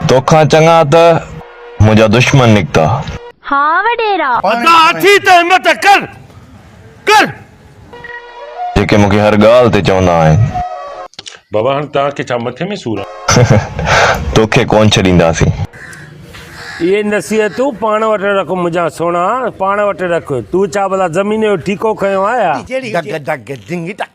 توکان چڱا ته منهنجا دشمن نڪتا. ها وڏيرا! ادا اٿي ته همت ڪر، ڪر! جيڪي مون کي هر ڳالهه تي چوندا آهن. بابا هاڻ توهان کي ڇا مٿي ۾ سور آهي؟ توکي ڪونه ڇڏينداسين. اهي نصيحتون پاڻ وٽ رک منهنجا سهڻا، پاڻ وٽ رک. تون ڇا ڀلا زمين جو ٺيڪو کنيو آهي ها؟ ڊگ ڊگ ڊنگ ڊگ.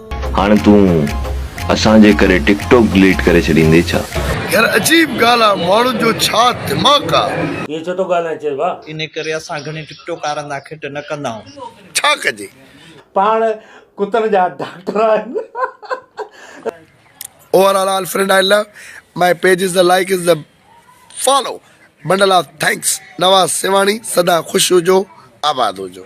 هاڻ تون اسان جي ڪري ٽڪ ٽوڪ ڊليٽ ڪري ڇڏيندي ڇا. يار عجيب ڳالهه آ ماڻهن جو ڇا دماغ آ. ائين ڇو ٿو ڳالهائين چيس ڀا. انهي ڪري اسان گهڻي ٽڪ ٽوڪ وارن سان کٽ نه ڪندائون. ڇا ڪجي. پاڻ ڪتن جا ڊاڪٽر آهن. Over all all friend I love my pages the like is the follow bundle of thanks Nawaz Sehwani سدا خوش هجو آباد هجو.